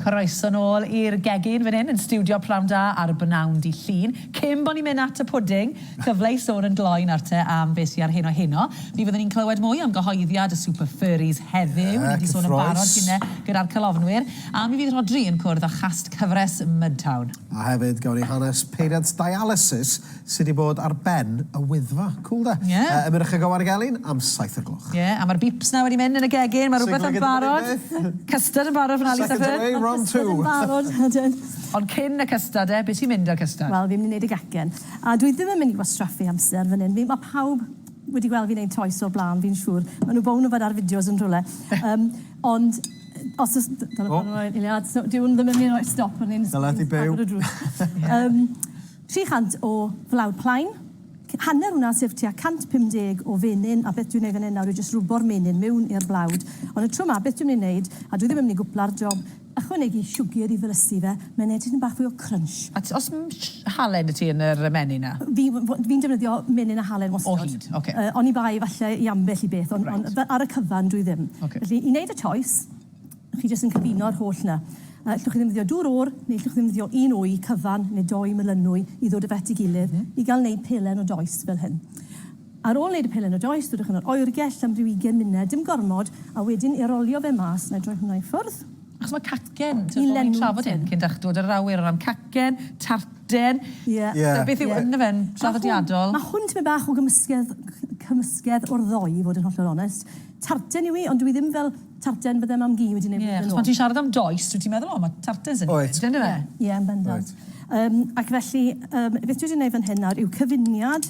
Croeso nôl i'r gegin fan hyn yn stiwdio Pnawn Da ar bnawn Dy Llun. Cyn bo ni'n mynd at y pwding, cyfle i sôn yn gloyn ar te am be sy ar heno heno. Mi fyddwn ni'n clywed mwy am gyhoeddiad y Super Furries heddiw, ni 'di sôn yn barod gine gyda'r calofnwyr, a mi fydd Rhodri yn cwrdd â chast cyfres Mudtown. A hefyd, gawn ni hanes peiriant dialysis Sydd 'di bod ar ben y Wyddfa. Cŵl 'de? Ie. Yy yn Mynach y Gower Gelyn am saith o'r gloch. Ie, a ma'r beeps 'na wedi mynd yn y gegin, ma' rwbeth yn barod. Custard yn barod fan 'na Lisa Firth. Second away, round two. Custard yn barod, ydyn. Ond cyn y custard 'de, be' sy'n mynd 'da'r custard? Wel, fi'n mynd i neud y gecin. A dwi ddim yn mynd i wastraffu amser fan 'yn. Fi... Ma' pawb wedi gweld fi neud toes o'r bla'n, fi'n siŵr. Ma' nw bown yfed ar fideos yn rhwle. Yym, ond os o's... Dyna pan... O! ...eiliad. So, dyw 'wn ddim yn myn' i roi stop ar ni'n... Dyle di byw. ...agor y drws. Yym. 300 o flawd plaen, hanner hwnna sef tua 150 o fenyn, a beth dwi'n ei fan hyn nawr yw jyst rwbo'r menyn mewn i'r blawd, ond y tro yma beth dwi'n mynd i wneud, a dwi ddim yn mynd i gwpla'r job, ychwanegu siwgr i ddrysu fe, mae'n neud tipyn bach fwy o crunch. A t- oes m-sh halen 'da ti yn yr yy menyn 'na? Fi w- w- fi'n defnyddio menyn a halen wastad. O hyd, ocê. Yy oni bai falle i ambell i beth, on- on- Reit. Ar y cyfan dwi ddim. Ocê. Felly i neud y choice, Chi jyst yn cyfuno'r holl 'na. Yy llwch chi ddefnyddio dŵr oer neu llwch chi ddefnyddio un wy cyfan neu dou melynwy i ddod o fe at ei gilydd i gael neud pelen o does fel hyn. Ar ôl neud y pelen o does dodwch yn yr oergell am ryw ugen munud, dim gormod, a wedyn i rolio fe mas, na i droi hwnna i ffwrdd, Achos mae cacen, ti'n gwybod, ni'n trafod hyn cyn dechrau dod yr awyr o ran cacen, tarten, so beth yw ynddo fe'n draddodiadol? Mae hwn tipyn bach o gymysgedd, cymysgedd o'r ddou i fod yn hollol onest. Tarten yw hi ond dyw hi ddim fel, Tartan bydde mam Gi wedi neud flwyddyn nôl. Ie, achos pan ti'n siarad am does, dwyt ti'n meddwl, o, mae tartans yn mynd, yndyfe? Wyt. Ie, yn bendant. Wyt. Ac felly, beth dwi wedi neud fan hyn nawr yw cyfuniad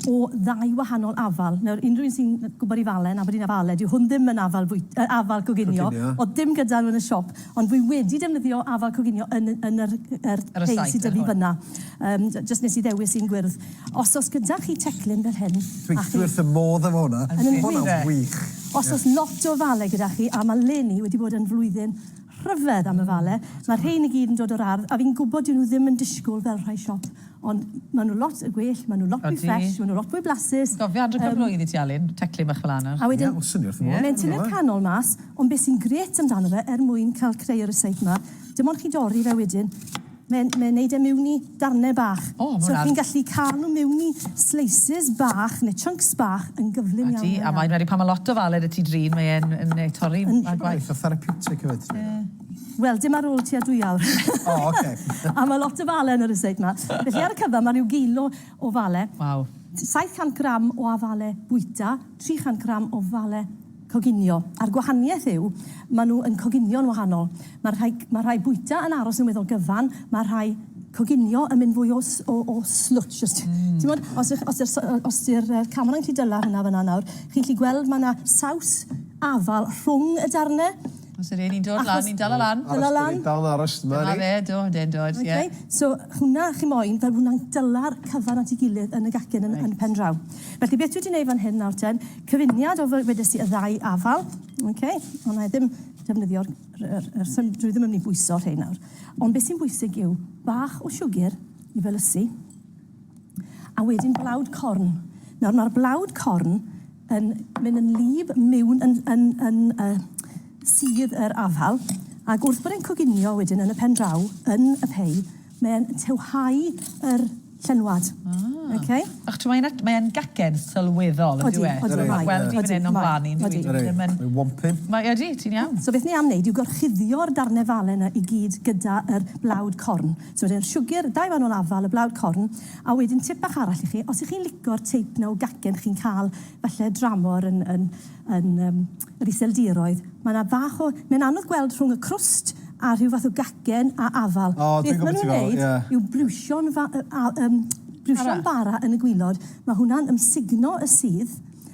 o ddau wahanol afal. Nawr, unrhyw un sy'n gwybod i Falen, Aberdeen Afal, dyw hwn ddim yn afal fwyt- yy afal coginio. Coginio. O'dd dim gyda nhw yn y siop, ond dwi wedi defnyddio afal coginio yn y, yn yr, yr... Ar y site ar hwn. ...rhei sy 'da fi fynna. Yym, jyst nes i ddewis un gwyrdd. Os oes gyda chi teclyn fel hyn, a chi... Dwi wrth fy modd efo hwnna. Yn wych. Hwnna yn wych. Os oes lot o ofale gyda chi, a mae Leni wedi bod yn flwyddyn rhyfedd am ofale, mae rhein i gyd yn dod o'r ardd, a fi'n gwybod dyw nhw ddim yn disgwyl fel rhai siop, ond mae nhw lot yn gwell, mae nhw lot fwy ffresh, mae nhw lot fwy blasus. Ti'n gofio adre pa flwydd i ti Alun? Teclyn bach fel 'na nawr. A wedyn... Ie, o, swn i wrth fy modd. Mae'n tynnu'r canol mas, ond be sy'n grêt amdano fe, er mwyn cael creu y rysáit 'ma, dim ond chi'n dorri fe wedyn, Mae'n mae'n neud e miwn i darne bach. O, ma' So hwnna'n- chi'n gallu cael nhw miwn i slices bach neu chunks bach yn gyflym iawn. Ydi, a mae'n wedi pan ma' lot o fal ar y tu drin, mae e'n yn ne- torri Yn- ar gwaith. Eitha therapeutic hefyd ti'n meddwl? Wel, dim ar ôl tua dwy awr. O, ocê. A ma' lot o fale yn yr estate 'ma. Felly ar y cyfa ma' ryw gilo o fale. Waw. 700 gram o afale bwyta, 300 gram o fale Coginio. A'r gwahaniaeth yw, maen nhw yn coginio'n wahanol. Mae'r rhai, mae'r rhai bwyta yn aros yn weddol gyfan, mae'r rhai coginio yn mynd fwy o, o, o slwtsh, os ti... Mm. Ti'n gwybod, os ych, os yw'r so- os yw'r yy camerau'n gallu dyla hwnna fan'na nawr, chi'n gallu gweld mae yna saws afal rhwng y darnau. Os yr un i'n dod lan, ni'n dala lan. Dala lan. Aros, dal yn aros, dyma ni. Dyma fe, do, yndyn, dod, ie. Okay, so hwnna, chi'n moyn, fel hwnna'n dyla'r cyfan at ei gilydd yn y gacen yn, yn pen draw. Felly, beth dwi wedi wneud fan hyn nawr ten, Cyfuniad o fy- wedes i y ddau afal. Ok, ond na i ddim defnyddio'r yr yr sym- dwi ddim yn mynd i bwyso rhein nawr. Ond beth sy'n bwysig yw bach o siwgr i felysu a wedyn blawd corn. Nawr mae'r blawd corn yn mynd yn lib miwn yn yn yn uh, sydd yr afal ac wrth bod e'n coginio wedyn yn y pen draw yn y pei Mae'n tywhau yr llenwad. Ah. Okay. Ych, mae e'n, mae e'n gacen sylweddol, yndyw e? Odi, odi, mae. Gweld i fan hyn o'n blaen i, yndyw e? Odi, odi. Mae'n wompyn. Mae, odi, ti'n iawn. So beth ni am wneud yw gorchuddio'r darnau fale yna i gyd gyda yr blawd corn. So wedyn siwgr, dau fanol afal, y blawd corn, a wedyn tip bach arall i chi, os ych chi'n lico'r teip na o gacen chi'n cael falle dramor yn, yn, yn, um, Yr Iseldiroedd. Mae 'na fach o... Mae'n anodd gweld rhwng y crwst a rhyw fath o gacen a afal. O, dwi'n gwybod beth ti'n feddwl, ie. Beth maen nhw'n wneud yw briwsio'n fa- a- yym briwsio'n bara yn y gwilod. Mae hwnna'n ymsugno y sudd.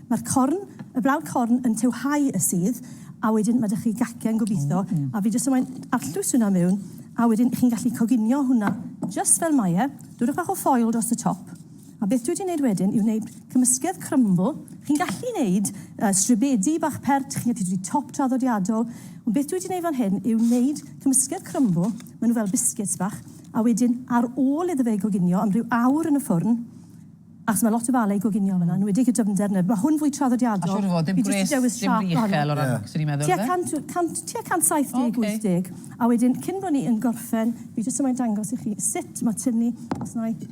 Mae'r corn, y blawd corn yn tywhau y sudd, a wedyn mae 'da chi gacen, gobeithio, a fi jyst yn moyn arllwys hwnna mewn, a wedyn chi'n gallu coginio hwnna jyst fel mae e. Dwrnwch bach o ffoil dros y top. A beth dwi 'di neud wedyn yw neud cymysgedd crymbl. Chi'n gallu neud yy stribedi bach pert, chi'n gallu neud top traddodiadol, ond beth dwi 'di neud fan hyn yw neud cymysgedd crymbl, ma' nw fel biscuits bach, a wedyn ar ôl iddo fe goginio am ryw awr yn y ffwrn, achos ma' lot o fale i goginio yn fan 'na, enwedig y dyfnder 'na, ma' hwn fwy traddodiadol. A siŵr o fod, dim gwres, dim rych uchel o ran, swn i'n meddwl, ife? Tua cant, cant, tua 170, 80. A wedyn, cyn bo' ni yn gorffen, fi jyst yma i dangos i chi sut ma' tynnu, os 'na i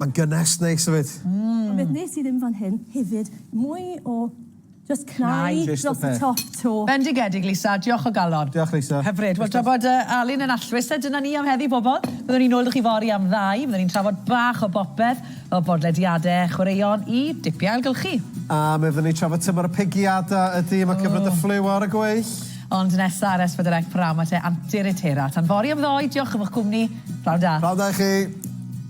Mae'n gynnes neis hefyd. Ond beth wnes i ddim fan hyn hefyd, mwy o jyst cnau dros y top 'to. Bendigedig Lisa, diolch o galon. Diolch Lisa. Hyfryd. Wel tra bod Alun yn allwys te, dyna ni am heddi bobl. Byddwn ni'n nôl 'da chi fory am ddau, byddwn ni'n trafod bach o bopeth, o bodlediade, chwaraeon i dipia ailgylchu. A mi fyddwn ni'n trafod tymor y pigiada, ydi, mae cyfnod y ffliw ar y gweill. Ond nesa ar S4C p'nawn ma te Antur Etera. Tan fory am ddoe, diolch am eich cwmni. P'nawn da. P'nawn da i chi.